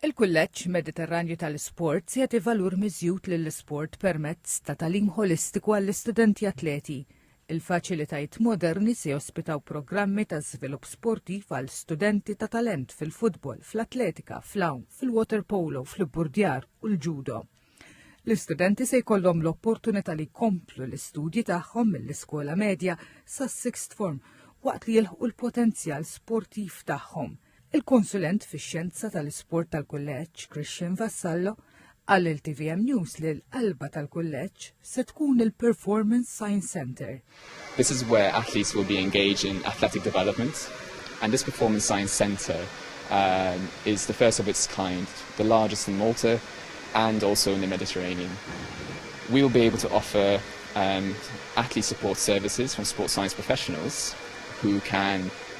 Il-Kulleġġ Mediterranju tal-Isports jagħti valur miżjud lill-isport permezz ta' tagħlim ħolistiku għall-istudenti atleti. Il-faċilitajiet moderni se jospitaw programmi ta' żvilupp sportiv għal studenti ta' talent fil-futbol, fl-atletika, fl-għawm, fil-waterpolo, fl-ibburdjar u l-ġudo. L-istudenti se jkollhom l-opportunità li jkomplu l-istudji tagħhom mill-iskola medja sas-sixth form waqt li jilħqu l-potenzjal sportiv tagħhom. Il-konsulent fix-xjenza tal-isport tal-kulleġġ, Christian Vassallo, qal lil TVM News li l-qalba tal-kulleġġ se tkun il-Performance Science Centre. This is where athletes will be engaged in athletic development and this Performance Science Centre um, is the first of its kind, the largest in Malta and also in the Mediterranean. We will be able to offer um, athlete support services from sports science professionals who can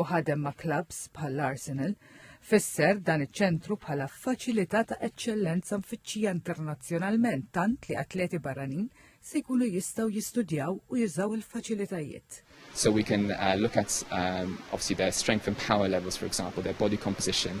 u ħadem ma' klabbs bħall-Arsenal, fisser dan iċ-ċentru bħala faċilità ta' eċċellenza mfittxija internazzjonalment tant li atleti barranin se jkunu jistgħu jistudjaw u jużaw il-faċilitajiet. So we can uh, look at um, obviously their strength and power levels, for example, their body composition,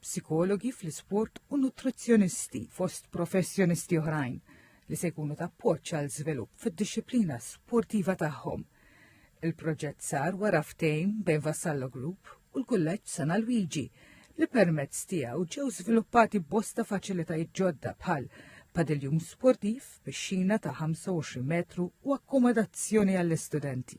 psikologi fl-isport u nutrizzjonisti fost professjonisti oħrajn li se jkunu ta' appoġġ għal żvilupp fid-dixxiplina sportiva tagħhom. Il-proġett sar wara ftehim bejn Vassallo Group u l-Kulleġġ San Alwiġi li permezz tiegħu ġew żviluppati bosta faċilitajiet ġodda bħal padiljum sportiv, pixxina ta' 25 metru u akkomodazzjoni għall-istudenti.